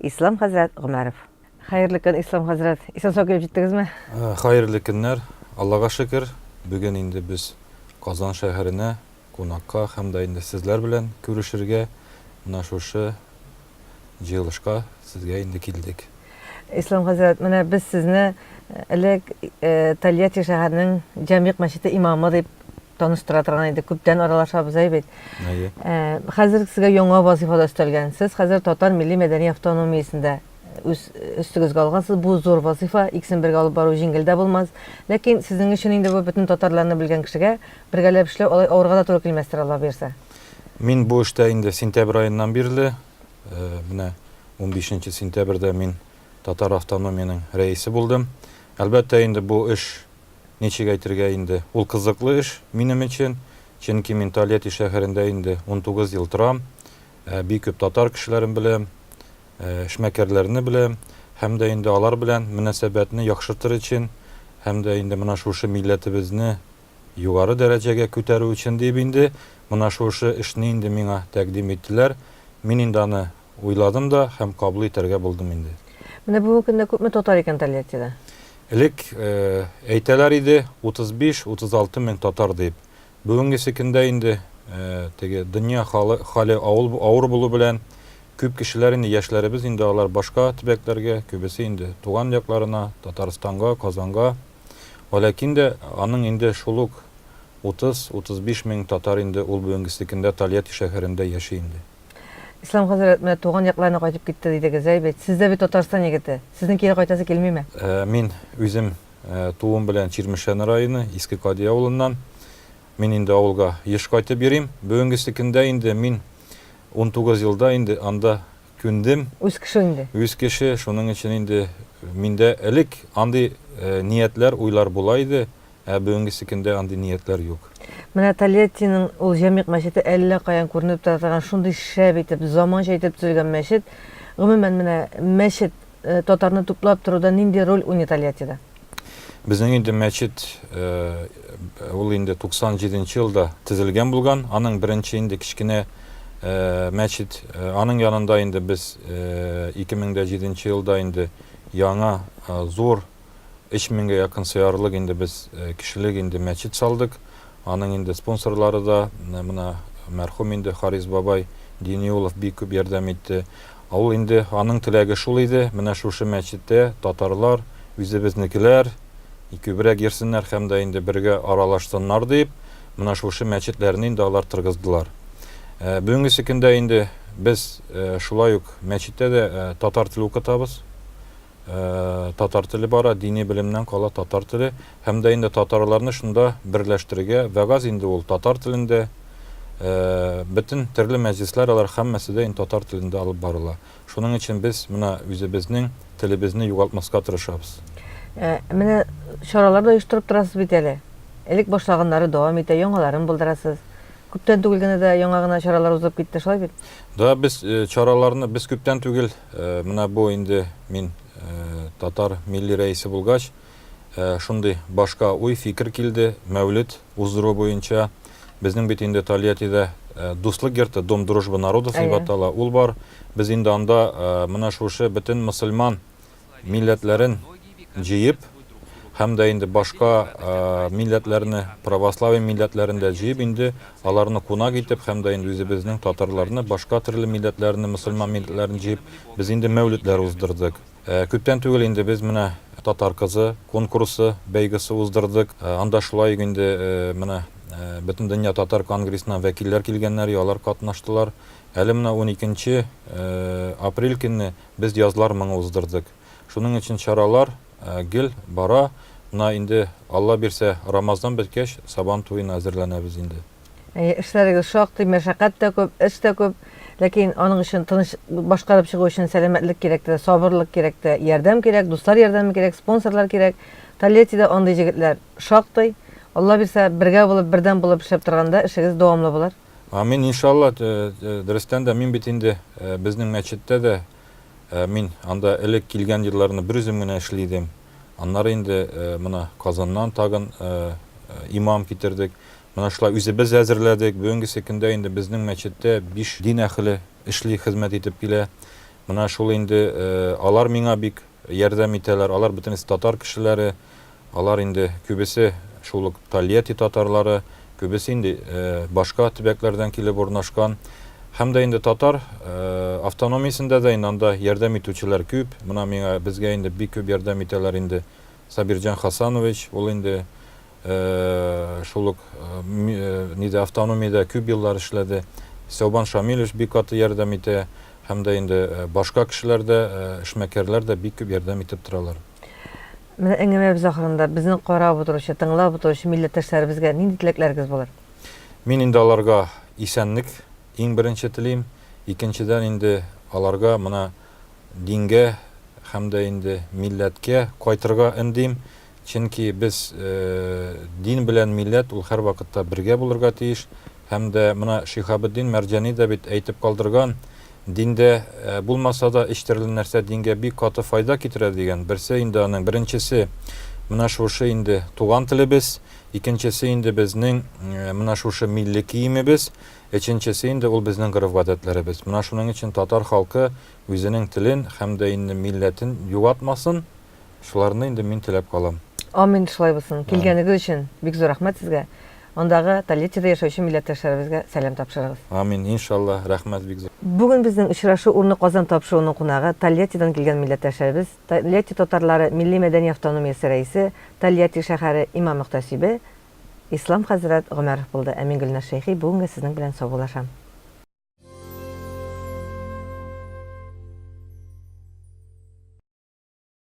Ислам хәзрәт Гомәров. Хәерле көн, Ислам хәзрәт. Исән-сау килеп җиттегезме? Э, хәерле көннәр. Аллага шөкер, бүген инде без Казан шәһәренә кунакка һәм дә инде сезләр белән күрешергә менә шушы җыелышка сезгә инде килдек. Ислам хәзрәт, менә без сезне э, элек э, Тольятти шәһәренең Җәмигъ мәчете имамы дип таныштыра торган иде. Күптән аралашабыз әй бит. Әйе. Э, хәзер сезгә яңа вазифа да өстәлгән. Сез хәзер Татар милли мәдәни автономиясендә үз өстегезгә алгансыз. Бу зур вазифа, икесен бергә алып бару җиңел дә булмас. Ләкин сезнең өчен инде бу бөтен татарларны белгән кешегә бергәләп эшләү алай авырга да туры килмәстер, Алла бирсә. Мин бу эштә инде сентябрь аеннан бирле, э, менә 15 сентябрьдә мин Татар автономиянең рәисе булдым. Әлбәттә, инде бу эш Ничек әйтергә инде, ул кызыклы эш минем өчен, чөнки мин Тольятти шәһәрендә инде унтугыз ел торам, бик күп татар кешеләрен беләм, эшмәкәрләрне беләм һәм дә инде алар белән мөнәсәбәтне яхшыртыр өчен һәм дә инде менә шушы милләтебезне югары дәрәҗәгә күтәрү өчен диеп инде менә шушы эшне инде миңа тәкъдим иттеләр, мин инде аны Уйладым да һәм каблы итәргә булдым инде. Менә бүгенге көндә күпме татар икән Тольяттида? Элек әйтәләр иде, 35-36 мең татар дип. Бүгенгесе көндә инде теге дөнья хәле авыр булу белән күп кешеләр инде яшьләребез инде алар башка төбәкләргә, күбесе инде туган якларына, Татарстанга, Казанга. Валәкин дә аның инде шул ук 30-35 мең татар инде ул бүгенгесе көндә Тольятти шәһәрендә яши инде. Ислам хәзрәт, менә туган якларына кайтып китте дидегез, әй бит, сез дә бит Татарстан егете. Сезнең кире кайтасы килмиме? Мин үзем тууым белән Чирмешән районы, Иске Кади авылыннан. Мин инде авылга еш кайтып йөрим. Бүгенгесе көндә инде мин 19 елда инде анда күндем. Үз кеше инде. Үз кеше, шуның өчен инде миндә элек андый ниятләр, уйлар була иде. Ә бүгенгесе көндә андый ниятләр юк. Менә Тольяттиның ул Җәмигъ мәчете әллә каян күренеп тора торган шундый шәп итеп, заманча итеп төзелгән мәчет. Гомумән, менә мәчет, татарны туплап торуда нинди роль уйный Тольяттида? Безнең инде мәчет, ул инде 97 нче елда төзелгән булган. Аның беренче инде кечкенә мәчет, аның янында инде без 2007 нче елда инде яңа зур, Өч меңгә якын сыярлык инде без кешелек инде мәчет салдык. Аның инде спонсорлары да мына мәрхүм инде Харис бабай Диниулов бик күп ярдәм итте. Ул инде аның теләге шул иде, менә шушы мәчеттә татарлар, үзебезнекеләр күбрәк йөрсеннәр һәм дә инде бергә аралашсыннар дип, менә шушы мәчетләрне инде алар торгыздылар. Бүгенгесе көндә инде без шулай ук мәчеттә дә татар теле укытабыз. татар теле бара, дини белемнән кала татар теле, һәм дә инде татарларны шунда берләштерергә, вәгазь инде ул татар телендә, бөтен төрле мәҗлесләр алар һәммәсе дә инде татар телендә алып барыла. Шуның өчен без менә үзебезнең телебезне югалтмаска тырышабыз. Менә чаралар да оештырып торасыз бит әле. Элек башлаганнары дәвам итә, яңаларын булдырасыз. Күптән түгел генә дә яңа гына чаралар узып китте, шулай бит? Да, без чараларны без күптән түгел Менә бу инде мин татар милли рәисе булгач, шундый башка уй, фикер килде, мәүлет уздыру буенча. Безнең бит инде Тольяттида Дуслык йорты, Дом дружбы народов дип атала, ул бар. Без инде анда менә шушы бөтен мөселман милләтләрен, җыеп, һәм дә инде башка милләтләрне, православие милләтләрен дә җыеп, инде аларны кунак итеп, һәм дә инде үзебезнең татарларны, башка төрле милләтләрне, мөселман милләтләрен җыеп, без инде мәүлетләр уздырдык. Күптән түгел инде без менә Татар кызы конкурсы, бәйгесе уздырдык. Анда шулай ук инде менә Бөтендөнья татар конгрессыннан вәкилләр килгәннәр, и алар катнаштылар. Әле менә уникенче апрель көнне без Язлар моңы уздырдык. Шуның өчен чаралар гел бара. Менә инде, Алла бирсә, Рамазан беткәч, Сабан туена әзерләнәбез инде. Әйе, эшләрегез шактый, мәшәкать тә күп, эш тә күп. Ләкин аның өчен тыныч башкарып чыгу өчен сәламәтлек кирәк тә, сабырлык кирәк тә, ярдәм кирәк, дуслар ярдәме кирәк, спонсорлар кирәк. Тольяттида андый җегетләр шактый. Алла бирсә, бергә булып, бердәм булып эшләп торганда, эшегез дәвамлы булыр. Амин, иншалла. Дөрестән дә, мин бит инде безнең мәчеттә дә Ә мин анда элек килгән елларны берүзем генә эшли идем. Аннары инде менә Казаннан тагын имам китердек. Менә шулай үзебез әзерләдек. Бүгенгесе көндә инде безнең мәчеттә биш дин әхеле эшли, хезмәт итеп килә. Менә шул инде алар миңа бик ярдәм итәләр. Алар бөтенесе татар кешеләре. Алар инде күбесе шул ук Тольятти татарлары, күбесе инде башка төбәкләрдән килеп урнашкан. Һәм дә инде татар автономиясендә дә инде анда ярдәм итүчеләр күп. Менә миңа, безгә инде бик күп ярдәм итәләр инде. Сабирҗан Хасанович, ул инде шул ук нидә, автономиядә күп еллар эшләде. Сәүбан Шамилович бик каты ярдәм итә. Һәм дә инде башка кешеләр дә, эшмәкәрләр дә бик күп ярдәм итеп торалар. Менә әңгәмәбез ахырында безнең карап утыручы, тыңлап утыручы милләттәшләребезгә нинди теләкләрегез булыр? Мин инде аларга исәнлек иң беренче телим. Икенчедән инде аларга мына дингә һәм дә инде милләткә кайтырга өндим. Чөнки без дин белән милләт ул һәрвакытта бергә булырга тиеш. Һәм дә мына Шиһабетдин Мәрҗани дә бит әйтеп калдырган, Диндә булмаса да өч төрле нәрсә дингә бик каты файда китерә дигән. Берсе инде аның, беренчесе, менә шушы инде туган телебез, икенчесе инде безнең менә шушы милли киемебез, өченчесе инде ул безнең гореф-гадәтләребез. Менә шуның өчен татар халкы үзенең телен һәм дә инде милләтен югатмасын. Шуларны инде мин теләп калам. Амин, шулай булсын. Килгәнегез өчен бик зур рәхмәт сезгә. Андагы Тольяттида яшәүче милләттәшләребезгә сәлам тапшырыгыз. Амин, иншаллаһ, рәхмәт бик зур. Бүген безнең очрашу урыны Казан тапшыруының кунагы, Тольяттидан килгән милләттәшләребез, Тольятти татарлары милли-мәдәни автономиясе рәисе, Тольятти шәһәре имам-мөхтәсибе Ислам хәзрәт Гомәров булды. Ә мин, Гөлназ Шәйхи, бүгенгә сезнең белән саубуллашам.